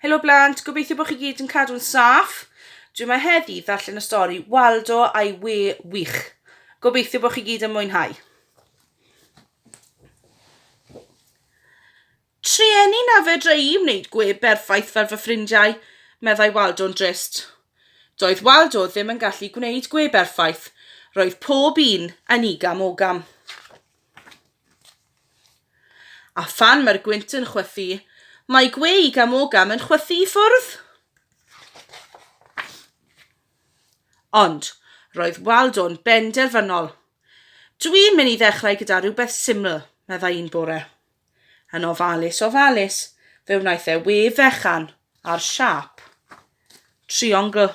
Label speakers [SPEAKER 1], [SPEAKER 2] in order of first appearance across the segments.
[SPEAKER 1] Helo blant, gobeithio bod chi gyd yn cadw'n saff. Dwi yma heddi ddarllen y stori Waldo a'i we wych. Gobeithio bod chi gyd yn mwynhau. Trueni na fedra i wneud gwe berffaith fel fy ffrindiau, meddai Waldo'n drist. Doedd Waldo ddim yn gallu gwneud gwe berffaith, roedd pob un yn igam ogam. A phan mae'r gwynt yn chwythu, mae gweu gam o gam yn chwythu i ffwrdd. Ond roedd Waldo'n benderfynol. Dwi'n mynd i ddechrau gyda rhywbeth syml, meddai un bore. Yn ofalus, ofalus, fe wnaeth e we fechan ar siap. Triongl.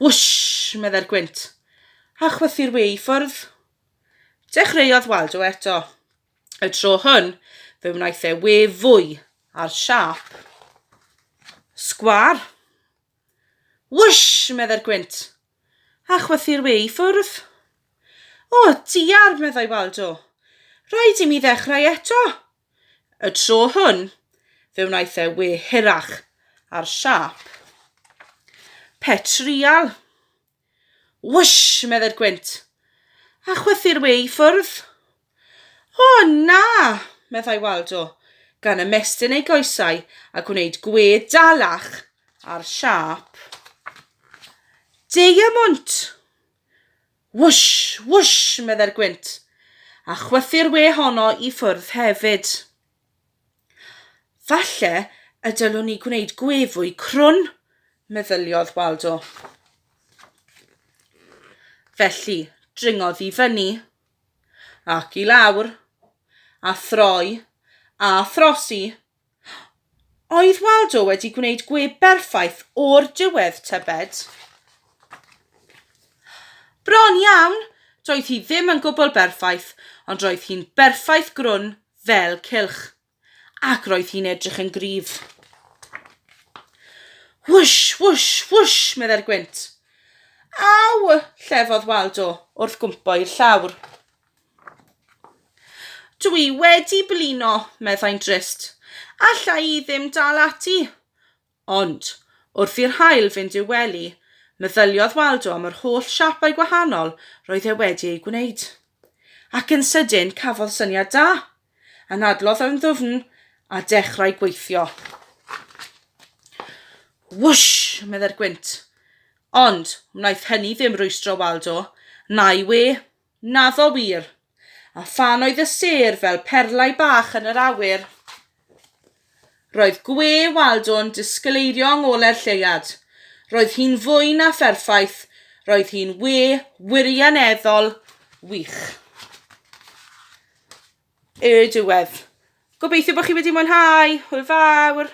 [SPEAKER 1] Wwsh, meddai'r gwynt, a chwythu'r we i ffwrdd. Dechreuodd Waldo eto. Y tro hwn, fe wnaeth e we fwy ar siâp sgwâr. Whoosh! meddai'r gwynt, a chwythu'r we i ffwrdd. O, diar, meddai Waldo. Rhaid i mi ddechrau eto. Y tro hwn, fe wnaeth e we hirach ar siâp petrial. Whoosh! meddai'r gwynt. A chwythu'r we i ffwrdd. O, na! meddai Waldo, gan ymestyn ei goesau a gwneud gwe dalach ar siâp. Deiamwnt! Whoosh! Whoosh! meddai'r gwynt. A chwythu'r we honno i ffwrdd hefyd. Falle y dylwn ni gwneud gwe fwy crwn, meddyliodd Waldo. Felly, dringodd i fyny, ac i lawr, a throi, a throsi. Oedd Waldo wedi gwneud gwe berffaith o'r diwedd, tybed? Bron iawn, doedd hi ddim yn gwbl berffaith, ond roedd hi'n berffaith grwn fel cylch, ac roedd hi'n edrych yn gryf. Whoosh, whoosh, whoosh, meddai'r gwynt. Aw, llefodd Waldo wrth gwmpo i'r llawr. Dw i wedi blino, meddai'n drist. Alla i ddim dal ati. Ond, wrth i'r haul fynd i'w wely, meddyliodd Waldo am yr holl siapau gwahanol roedd e wedi eu gwneud. Ac yn sydyn, cafodd syniad da! Anadlodd yn ddwfn a dechrau gweithio. Wwsh! meddai'r gwynt. Ond, wnaeth hynny ddim rwystro Waldo, na'i we. Naddo wir! A phan oedd y sêr fel perlau bach yn yr awyr, roedd gwe Waldo'n disgleirio yng ngole'r lleuad. Roedd hi'n fwy na pherffaith, roedd hi'n we wirioneddol wych. Y diwedd. Gobeithio bod chi wedi mwynhau. Hwyl fawr!